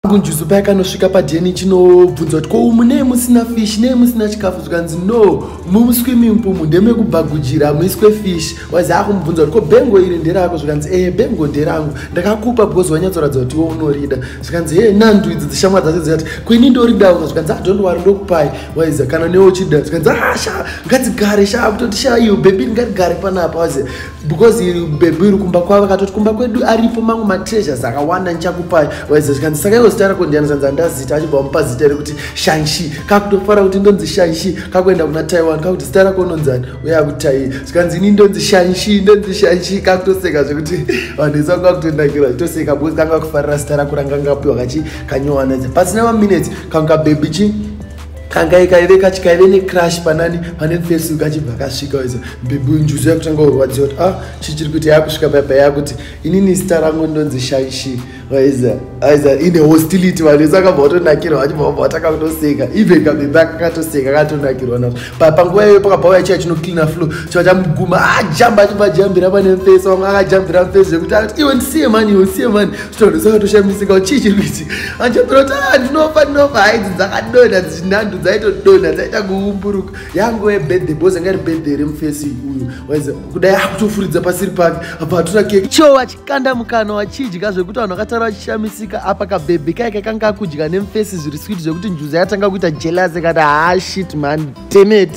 kunjuzu paya kanosvika padn chinobvunza kuti ko munei musina fish nei musina chikafu zvikanzi no muswimming pool ndemekubhagujira muiswe fish wazi akumubvunza kuti ko bengo iri nderako zvikanzi ee eh, bengo nderangu ndakakupa because wanyatsoratidza kuti iwe unorida zvikanzi ee eh, nandu idzi dzishamwa dzacho dzikati kwini ndoridawo zvikanzi adont ah, wari ndokupai waiza kana newe uchida zvikanzi asha ah, ngatigare sha kutoti sha iyo bebi ngatigare panapa wazi because bebi iri kumba kwavo akatoti kumba kwedu aripo mangu matreasures akawanda ndichakupai waiza zvikanzi saka iwo zita rako ndiyani zvanzi andazita achibva mupa zita rekuti shanshi kakutofara kuti ndonzi shanshi kakuenda kuna taiwan kakuti zita rako unonzani uya kutai zvikanzi ini ndonzi shanshi ndonzi shanshi kakutoseka zvekuti vanhu isa kakutonakirwa zvitoseka because kanga kufarira zita rako ranga ngapiwa kachi kanyowana pasina maminutes kanga bebi chi kanga ikaive kachi kaive necrash panani pane fesi kachibva kasvika iza mbibhu njuzu yakutanga kurwadziwa kuti ah chichiri kuita yakusvika paipa yakuti inini zita rangu ndonzi shaishi vaiza aiza ine hostility vanhu ese akabva watonakirwa vachibva vabva vatanga kutoseka even kabebe akakatoseka akatonakirwa navo papa nguva iyoyo pakabva uya chiya chinocleana flow chiva chamuguma ajamba ah, achibva ajambira pane mfesi vamwe akajambira mfesi zvekuti akati iwe ndisiye mani iwe ndisiye mani zvitondo sakatoshamisika kuti chii chiri kuitika anjobirota ndinofa ndinofa haidzi dzakadonha dzichinhandu dzaitodonha dzaita kuumburuka yangu webirthday bose ngari birthday remufesi uyu waiza kudai akutofuridza pasiri pake apa atora keke cho vachikanda mukana wachidya zvekuti vanhu vakataura vachishamisika apa kabhebhi kaike kanga akudya nemufesi zviri switi zvekuti njuza yatanga kuita jelasi kati hashit ah, man demet